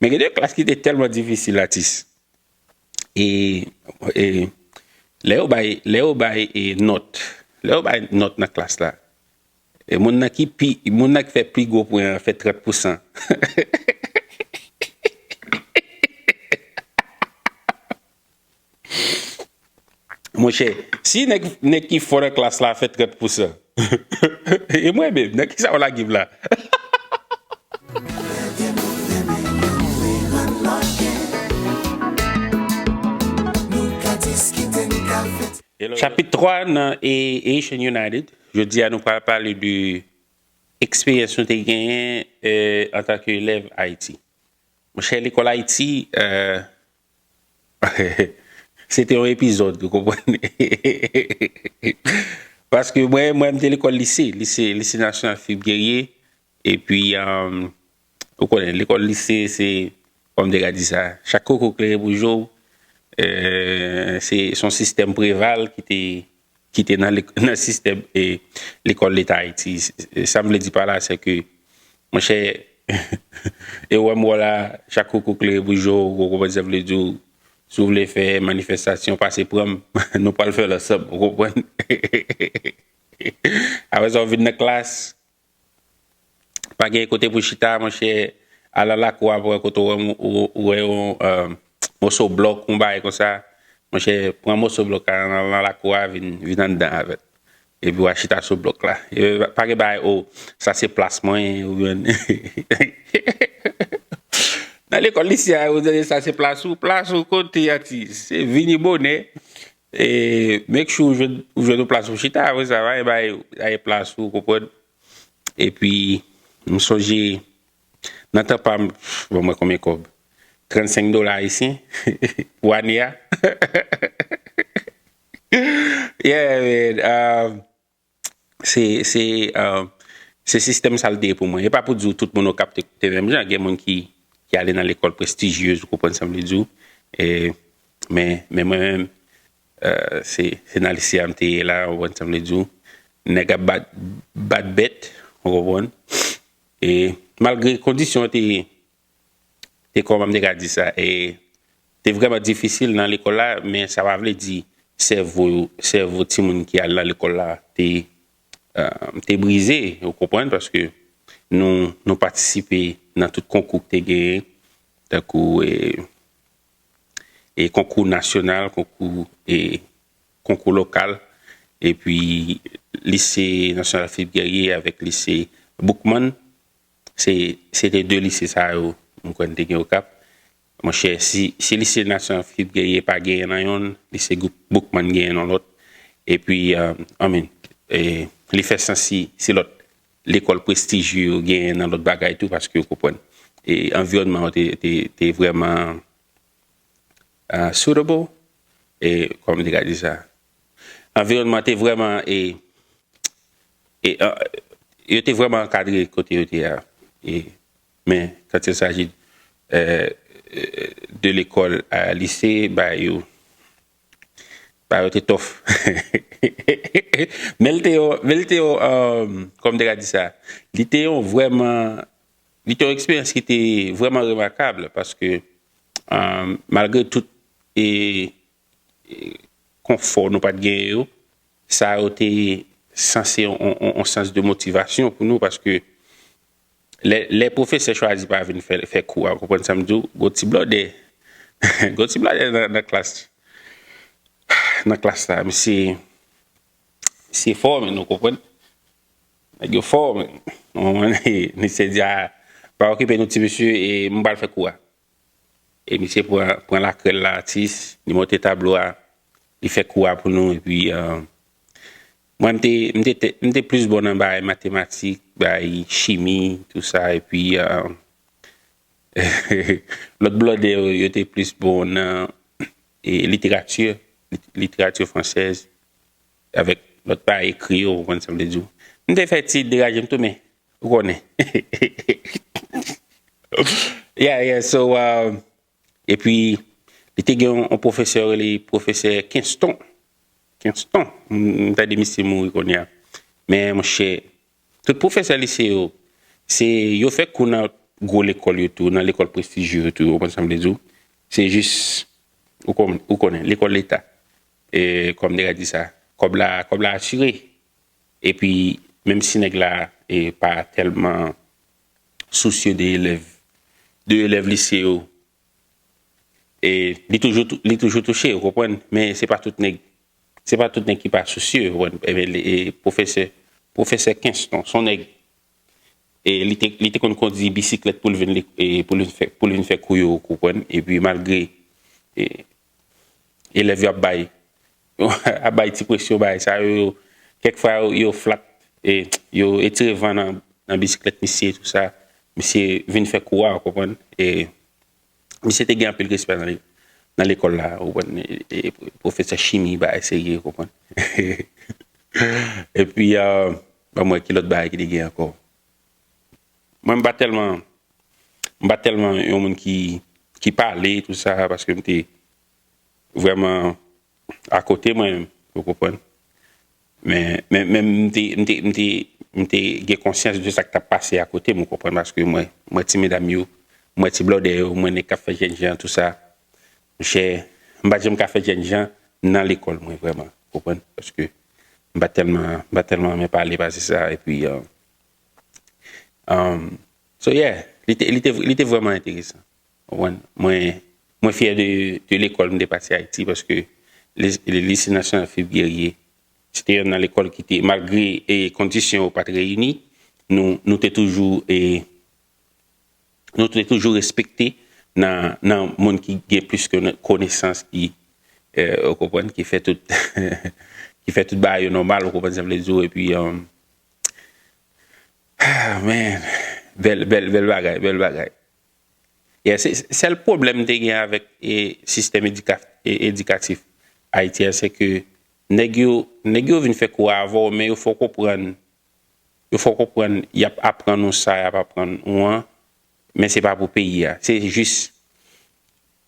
Men gen de klas ki te tèlman difisil atis e e lè yo bay lè yo bay e nòt lè yo bay nòt nan klas la e moun nan ki pi moun nan ki fè pi gwo pwen an fè 30 pou san Monchè, si nèg ki fò nan klas la fè 30 pousan, e mwen menm, nan kisa ou lage m la? Chapit 3 nan Haitian United, jodi a nou pral pale de eksperyans nou te genyen antanke elèv Ayiti. Monchè, lekòl Ayiti, Se te yon epizòd ou konprann. Paske mwen mwen te lekòl lise, lise lise nasyonal Filip Gerye epi ou konnen lekòl lise se kòm dega di sa chak koko klere pou je w se son sistèm preval ki te ki te nan sistèm lekòl leta Ayiti. Sa m vle di pa la se ke, monchè, e w wè m wè w la, chak koukou klere pou je w, ou konprann sa m vle di w. Si w vle fè manifestasyon, pase pran m, nou pral fè l ansanm, ou konprann. Apre sa, w vin nan klas, Pa gen kote pou chita monchè al nan lakou a pou wè kote ou wè yon moso blòk yon bagay konsa monchè pran moso blòk la nan lakou a vin anndan avèl epi wa chita sou blòk la pa gen bagay oh sa se plas mwen oubyen nan lekòl lise a ou tande sa se plas ou plas ou kote atis se vini bonè E make sure ou jwenn ou jwenn yon plas pou chita apre sa va bay bay plas ou konprann epi m sonje nan tan pam bon mwen konbyen kòb 35 dola ayisyen pou ane a yeah man Se sistèm sa l te ye pou mwen. E pa pou di w tout moun Okap te menm jan. Gen moun ki ale nan lekòl prestijyez, ou konprann sa m vle di w. Men mwen menm, se nan Lycea m te ye la, ou konprann sa m vle di w. Nèg ap bat bèt, ou konprann. E malgre kondisyon an te. te kòman m te ka di sa e te vrèman difisil nan lekòl la men sa pa vle di sèvo yo sèvo timoun ki al nan lekòl la te te brize ou konprann paske nou nou patisipe nan tout konkou ki te genyen tankou e e konkou nasyonal konkou e konkou lokal epi lise nasyonal Philippe Guerrier avèk lise Boukman Se se te 2 lise sa yo m kwè n te gen Okap. Monchè si si lise Nasyon Afrik genyen pa genyen nan yonn, lise Gou Boukman genyen nan lòt. Epi I mean li fè sans si si lòt lekòl prestijye yo genyen nan lòt bagay tou paske ou konprann e anviwònman yo te te te vrèman suitable e kòman m te ka di sa Anviwònman te vrèman e, e yo te vrèman ankadre kote yo te a. E, men, kant il saji de lekòl a lise, ba yo, ba yo te tòf. Men li te yon, men li te yon, kòman m te ka di sa? Li te yon vrèman, li te yon eksperyans ki te vrèman remakab, paske, malgre tout, e. konfò nou pat genyen yo, sa yo te sanse yon sans de motivasyon pou nou paske lè pwofesè chwazi pa vin fè kou a, ou konprann sa m di w, gon ti blòdè, gon ti blòdè nan klas, nan klas la, misye, misye fò menn ou konprann, nèg yo fò menn, misye di a, pa okipe nou ti mesye e m pral fè kou a. E misye pran lakrèl la atis, li monte tablo a, li fè kou a pou nou epi mwen m te plis bon nan bagay matematik, bagay chimi tou sa epi lòt blòdè yo yo te plis bon nan literati, literati fransèz avèk lòt bagay ekri yo ou konprann sa m vle di w. M te fè ti deraje m tou men Ou konnen. Yeah, yeah, so, um, epi, li te gen yon yon pwofesè yo rele pwofesè Kenston. Kenston. M m tande misye mouri kounye a. Men, monchè, tout pwofesè lise yo, se, yo fè kou nan gwo lekòl yo tou, nan lekòl prestijye yo tou, ou konn sa m vle di ou. Se jis, ou konn, ou konnen, lekòl leta. E, kòm nèg la di sa, kòb la, kòb la asire. Epi menm si nèg la pa tèlman sousye de elèv de elèv lise yo e li toujou li toujou touche ou konprann men se pa tout nèg se pa tout nèg ki pa sousye ou konprann enben e pwofesè pwofesè Kenston son nèg e li te li te konn kondi bisiklèt pou l vin li pou l vin fè kou yo ou konprann epi malgre e elèv yo ap bay ap bay ti presyon bagay sa yo yo kèk fwa yo flat e yo etire van nan nan bisiklèt misye tout sa misye vin fè kou a ou konprann e misye te gen anpil respè nan nan lekòl la ou konprann e pwofesè chimi bagay serye ou konprann epi banm wè ki lòt bagay ki te gen ankò. Mwen m pa tèlman m pa tèlman yon moun ki ki pale tout sa paske m te vrèman akote mwen ou konprann men men men m te m te m te m te gen konsyans de sa k t ap pase akote m ou konprann paske mwen m wè ti medam yo m wè ti blòdè yo m wè nèg k ap fè jènjan tout sa monchè m pa t janm ka fè jènjan nan lekòl mwen vrèman ou konprann paske m pa tèlman m pa tèlman renmen pale pase sa epi Um, so yeah, li te, li te, li te vreman enteresan. Mwen, mwen fyè de, de lekòl m te pase Ayiti, paske Lise Nasyonal Filip Gerye, se te yonn nan lekòl ki te, malgre e kondisyon yo pa t reyini, nou, nou te toujou e, nou te toujou respekte nan, nan moun ki gen plis ke konesans ki, ou konprann, ki fè tout, ki fè tout bagay yo nòmal, ou konprann sa m vle di w, epi, Amen bel bel bel bagay bel bagay ye se sel pwoblem m te gen avek e sistèm edikatif ayiti a se ke nèg yo nèg yo vin fè kou a avè w men yo fè w konprann yo fè w konprann y ap aprann ou sa y ap aprann ou an men se pa pou peyi a se jis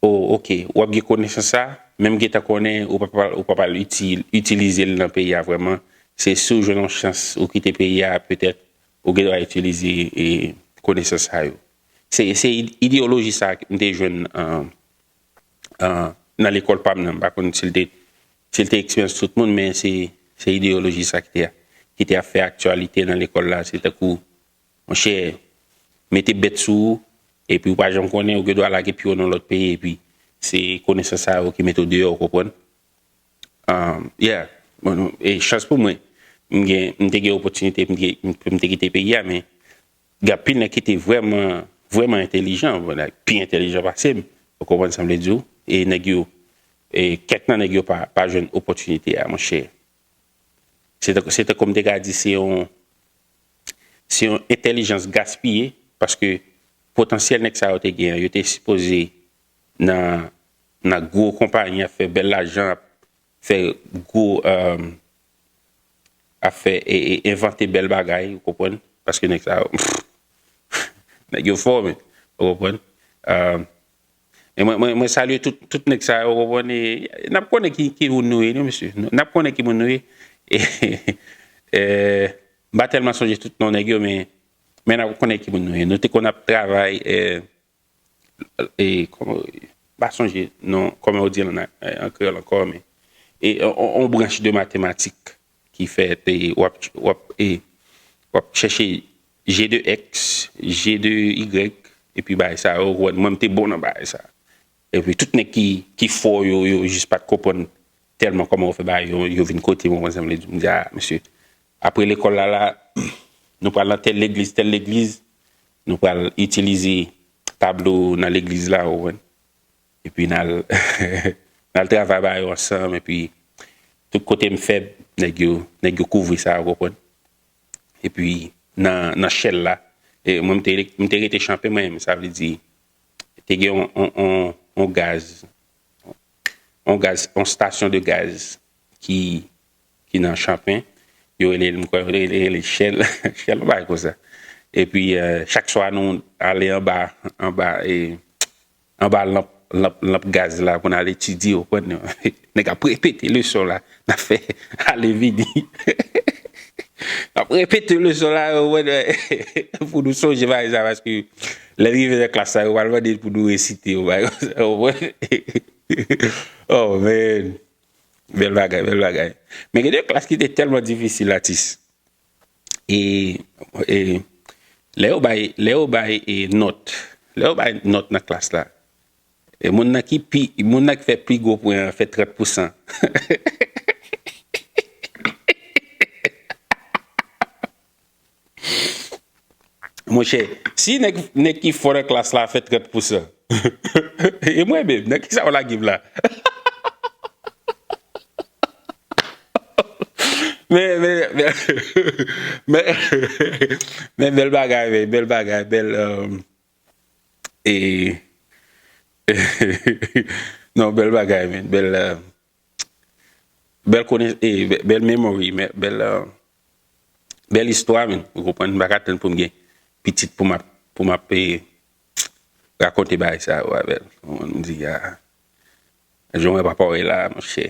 Oh ok, wap gen konesans sa, menm gentan konnen ou pa pral ou pap al itilize l nan peyi a vrèman, se si w jwenn yon chans ou kite peyi a petèt ou gen dwa itilize konesans sa yo. Se se ideyoloji sa m te jwenn nan lekòl pa m nan, m pa konn si l te si l te eksperyans tout moun men se se ideyoloji sa ki te ki te ap fè aktyalite nan lekòl la se tankou Monchè, mete bèt sou ou, epi ou pa janm konnen, ou gen dwa lage pye w nan lòt peyi epi se konesans sa yo ki mete w deyò, ou konprann? Yeah. E chans pou mwen, m gen, m te gen opòtinite pou m te kite peyi a, men gen anpil nèg ki te vrèman, vrèman entelijan, pi entelijan pase m, ou konprann sa m vle di w, e nèg yo, e kèk nan nèg yo pa jwenn opòtinite a, monchè. Se tankou m te ka di se yon se yon entèlijans gaspiye paske potansyèl nèg sa yo te gen an, yo te sipoze nan nan gwo konpayi ap fè bèl lajan, ap fè gwo ap fè e envante bèl bagay ou konprann paske nèg sa yo nèg yo fò men ou konprann. Mwen salye tout nèg sa yo konprann e nap konnen ki moun nou ye non mesye nap konnen ki moun nou ye m pa tèlman sonje tout non nèg yo men nap konnen ki moun nou ye nou te konn ap travay e m pa sonje non kòman yo di l an kreyòl ankò men on branch de matematik ki fè te wap wap e wap chèche je de èks je de igrèg epi bagay sa yo wè mwen m te bon nan bagay sa epi tout nèg ki ki fò yo yo jis pat konprann tèlman kòman ou fè bagay yo yo vin kote mwen konsa m vle di m di a mesye apre lekòl la la nou pral nan tèl legliz tèl legliz nou pral itilize tablo nan legliz la ou konprann Epi n al n al travay ba yo ansanm epi tout kote m fèb nèg yo nèg yo kouvri sa ou konprann. Epi nan nan shell la e mwen m te m te rete chanpe mwen menm sa vle di te gen yon yon yon yon gaz yon gaz yon stasyon de gaz ki ki nan chanpe yo rele l m kwè yo te rele l shell shell yon bagay konsa epi chak swa nou ale anba anba e Anba lanp lanp lanp gaz la pou n al etidye ou konprann non. Nèg ap repete leson la n ap fè ale vini. N ap repete leson la ou konprann pou nou sonje bagay sa paske lè l rive nan klas la yo pral mande n pou nou resite yon bagay konsa ou konprann oh man bèl bagay bèl bagay men gen de klas ki te tèlman difisil atis. E lè yo bay, lè yo bay e nòt, lè yo bay nòt nan klas la, e moun nan ki pi, moun nan ki fè pi gwo pwen an fè 30 pou san. Monchè, si nèg ki fò nan klas la fè 30 pousan, e mwen menm, nan kisa ou lage m la? Men bèl bagay men, bèl bagay, bèl e, non bèl bagay men, bèl. Bel konnen e bel memory bel bel istwa men ou konprann m paka tann pou m gen pitit pou map pou map e rakonte bagay sa yo avè l ou konprann m di a jan w wè papa w ye la monchè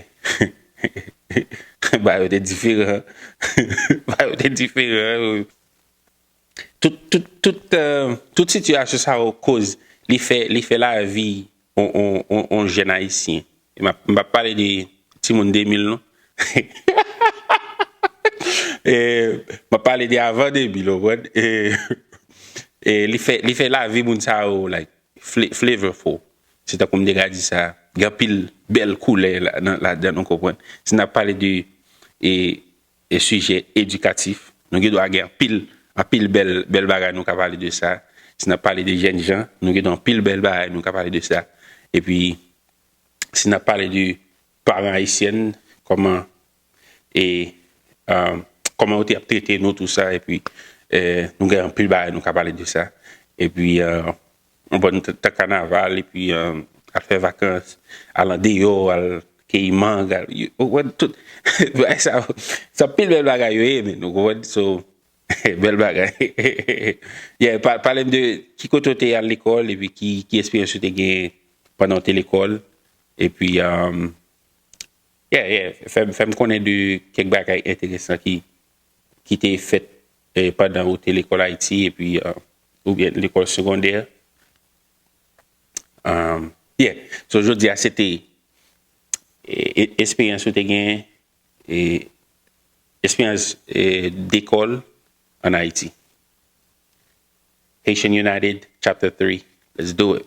bagay yo te diferan bagay yo te diferan Tout sitiyasyon sa yo koz li fè lavi yon jèn ayisyen, m pap pale de timoun 2000 non, m ap pale de avan 2000 ou konprann, li fè lavi moun sa yo like flavorful, se tankou m te ka di sa, gen anpil bèl koulè ladan l ou konprann. Si n ap pale de e sijè edikatif nou gen dwa gen anpil anpil bèl bèl bagay nou ka pale de sa si nap pale de jèn jan nou gen dwa anpil bèl bagay nou ka pale de sa epi si nap pale de paran ayisyèn kòman e kòman yo te ap trete nou tou sa epi nou gen anpil bagay nou ka pale de sa epi Yon bòn tan kanaval epi al fè vakans, al andeyò, al keyi mang, al, ou konprann, tout bagay sa yo, se anpil bèl bagay yo ye menn, ou konprann, so, bèl bagay. Yeah, pale m de ki kote ou te al lekòl epi ki esperyans ou te genyen pandan ou te lekòl epi Yeah, yeah, fè m konnen de kèk bagay enteresan ki te fèt pandan ou te lekòl Ayiti epi Ou byen lekòl segondè. Yeah, so jodi a se te esperyans ou te gen, esperyans dekòl an Ayiti. Haitian United chapter 3, let's do it!